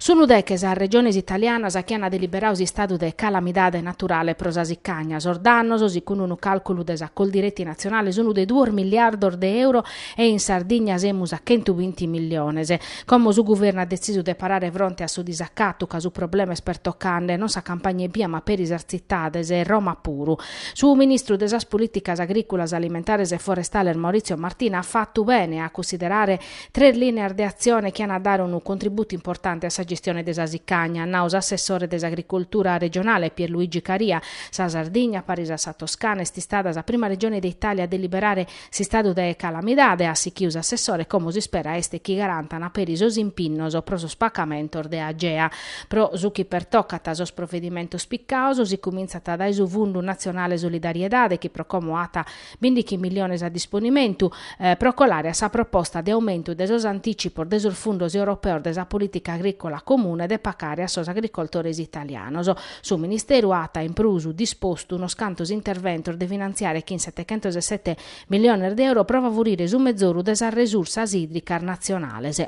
Sunu deche sas regiones italianas chi ant deliberadu s'istadu de calamidade naturale pro sa sicagna. Sos dannos, segundu unu càlculu de sa Coldiretti natzionale, sunt de duos miliardos de euro e in Sardigna semus a chentu binti milliones. Como su guvernu at detzisu de parare fronte a su disacatu ca su problema est pertocande non sa campagna ebbia ma peri sas tzitades e Roma puru. Su ministru de sas Polìticas agrìculas, alimentares e forestales Maurizio Martina at fatu bene a cunsiderare Tres lìneas de atzione chi ant a dare unu contributu importante a sa gestione de sa sicagna, at nau s'assessore de s'Agricultura regionale Pierluigi Caria. Sa Sardigna, paris a sa Toscana, est istada sa prima regione de Itàlia a deliberare s'istadu de calamidade, at sichiu s'assessore, como s'ispera est chi garantan peri sos impinnos pro sos pacamentos de Agea. Pro su chi pertocat sos provedimentos picados, si cumintzat dae su Fundu Natzionale Solidariedade chi pro como at Bindighi milliones a disponimentu pro colare a sa proposta de aumentu de sos anticipos de sos fundos europeos de sa politica agricola comune de pacare a sos agricoltores italianos. Su Ministeru at in prus dispostu unos cantos interventos de finantziare chin setechentos e sete milliones de euro pro favurire su mezoru de sas resursas idricas natzionales.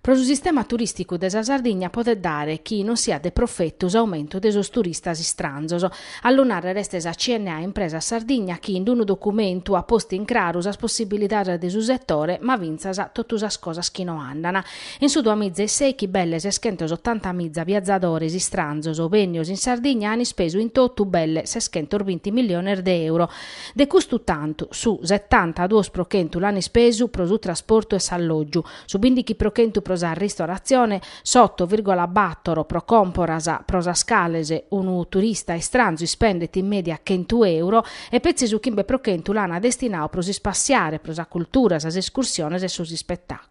Pro su sistema turìsticu de sa Sardigna podet dare chi non siat de profetu s'aumentu de sos turistas istranzos. A lu nàrrere est sa CNA Impresas Sardigna chi in unu documentu at postu in craru sas possibilidades de su setore ma fintzas totu sas cosas chi no andan. In su duamiza e seichi belle seschentos otantamiza viazadores istranzos bennios in Sardigna an ispesu in totu belle seschentos binti milliones de euro. De custu tantu, su setanta duos pro chentu l'an ispesu pro su trasportu e s'allògiu, su bindighi pro chentu pro sa ristoratzione, s'oto virgola bator pro còmporas, pro sas cales unu turista istranzu ispendet in mèdia chentu euro, e petzi su chimbe pro chentu l'an destinadu pro s'ispassiare, pro sa cultura, sas escursiones e sos ispetàculos.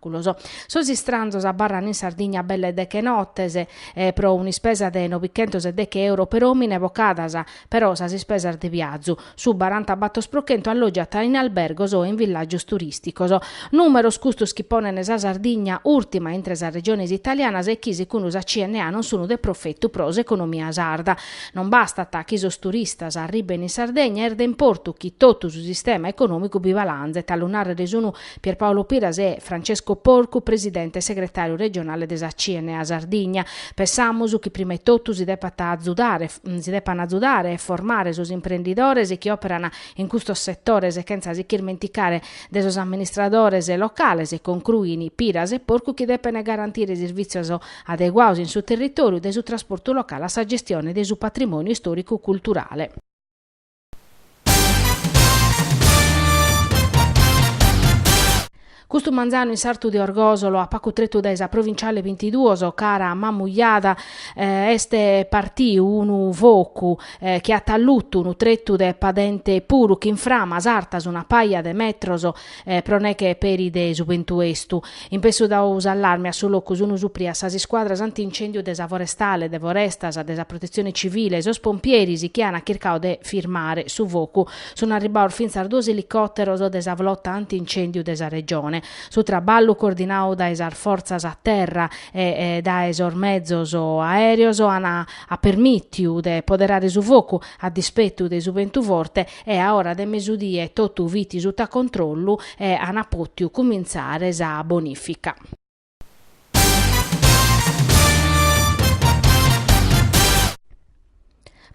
Sos istranzos abarran in Sardigna belle deche nottes pro un'ispesa de nobichentos e deche euro per omine bocadas, però sas ispesas de viazu, su baranta battor pro chentu allogiat in albergos o in villagios turisticos. Numeros custos chi ponen sa Sardigna urtima intre sas regiones italianas e chi segundu sa CNA non sun de profettu pro s'economia sarda. Non bastat chi sos turistas arriben in Sardegna, est de importu chi tottu su sistema economicu bi balanzet, a lu narrer sun Pierpaolo Piras e Francesco Porcu, presidente e segretàriu regionale de sa CNA Sardigna. Pensamus chi prima e totu si depan azudare, si depan azudare e formare sos imprendidores chi òperan in custos setores chentza s'irmenticare de sos amministradores locales, concruin Piras e Porcu chi depen garantire servìtzios adeguados in su territòriu, dae su trasportu locale a sa gestione de su patrimòniu istòricu-culturale. Custu manzanu in sartu de Orgosolo, a pacu tretu dae sa provinciale bintiduos, cara a Mamujada, est partiu unu focu chi at allutu unu tretu de padente puru, chin framas artas una paja de metros pro neche peri de su bentu estu. In pessu dau s'allarme a su locu sunu suprias sas iscuadras anti-incèndiu de sa Forestale, de Forestas, de sa Protetzione Civile e sos pompieris chi an chircadu de firmare su focu. Sun arribbados fintzas duos elicòteros de sa Flota anti-incèndiu de sa Regione. Su traballu, coordinadu dae sas fortzas a terra e dae sos mezos aèreos, at permìtiu de poderare su focu a dispetu de su bentu forte e a ora de mesudie totu fit suta controllu e ana potiu cumintzare sa bonifica.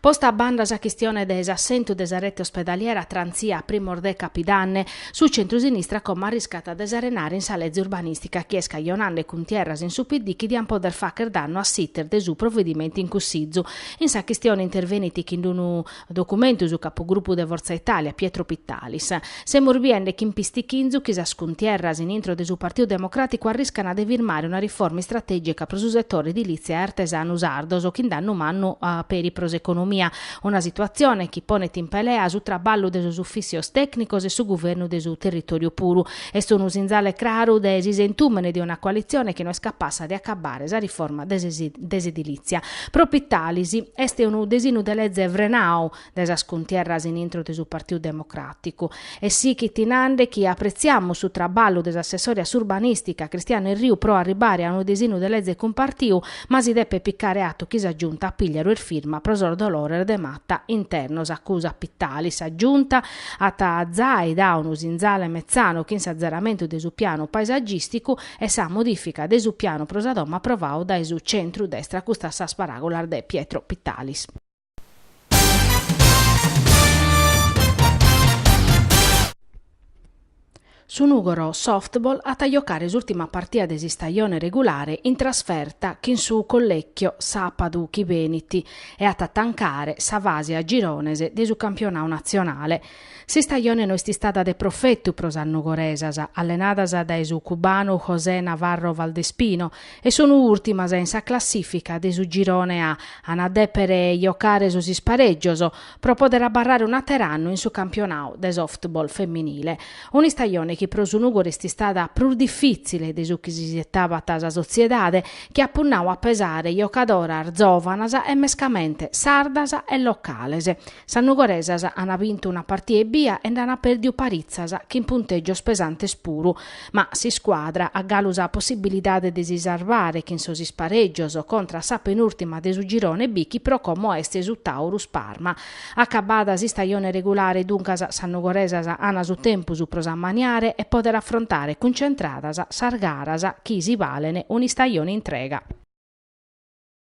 Posta a banda sa chistione de s'assentu de sa rete ospedaliera trantzia a primos de Capidanne, su centrusinistra como arriscat de s'arenare in sa leze urbanistica chi est cajonande cuntierras in su PD chi diant poder facher dannu a s'iter de su provedimentu in cussizu. In sa chistione intervenit chin unu Documentu su capugrupu de Forza Italia, Pietro Pittalis. Semus biende chin pistichinzu chi sas cuntierras in intro de su Partiu Democràticu arriscana de firmare una riforma istratègica pro su setore edilìtzia e artesanu sardos chin dannu mannu peri pro s'economia, una situatzione chi ponet in pelea su traballu de sos ufìssios tècnicos e su guvernu de su territòriu puru. Est unu sinzale craru de s'isentùmene de una coalitzione chi no est capassa de acabbare sa riforma de s'edilìtzia. Pro Pittalis est unu desinu de leze frenadu dae sas cuntierras in intro de su Partiu Democràticu. E sighit nande chi apretziamus su traballu de s'assessore a s'urbanìstica Cristiano Erriu pro arribare a unu desinu de leze cumpartiu, ma si depet picare atu chi sa Giunta Pigliaru est firma pro sos dolores de mata internos, acusat Pittalis. Sa Giunta At zai dau unu sinzale metzanu chin s'atzeramentu de su pianu paesagìsticu e sa modìfica de su pianu pro sa domo aprovadu dae su centru destra custas sas paràgulas de Pietro Pittalis. Su Nùgoro Softball at a jocare s'ùrtima partida de s'istajone regulare in trasferta chin su Collecchio sàpadu chi benit e at a tancare sa fase a girones de su campionadu natzionale. S'istajone no est istada de profetu pro sas nugoresas, allenadas dae su cubanu José Navarro Valdespino, e sun ùrtimas in sa classìfica de su girone A, an a dèpere jocare sos isparègios, pro pòdere abarrare un'àter'annu in su campionadu de softball feminile, un'istajone chi pro su Nùgori est istada prus difìtzile de su chi si sietabat sa sotziedade, chi at punnadu a pesare jocadoras zòvanas e mescamente sardas e locales. Sas nugoresas ant bintu una partia ebbia e nd'ant pèrdiu paritzas chin puntègios pesantes puru, Ma s'iscuadra at galu sa possibilidade de si sarvare chin sos isparègios contra a sa penùrtima de su girone B chi pro como est su Taurus Parma. Acabada s'istajone regulare duncas sas nugoresas an su tempus pro s'ammaniare e pòdere afrontare cuncentradas sas garas chi si balen un'istajone intrega.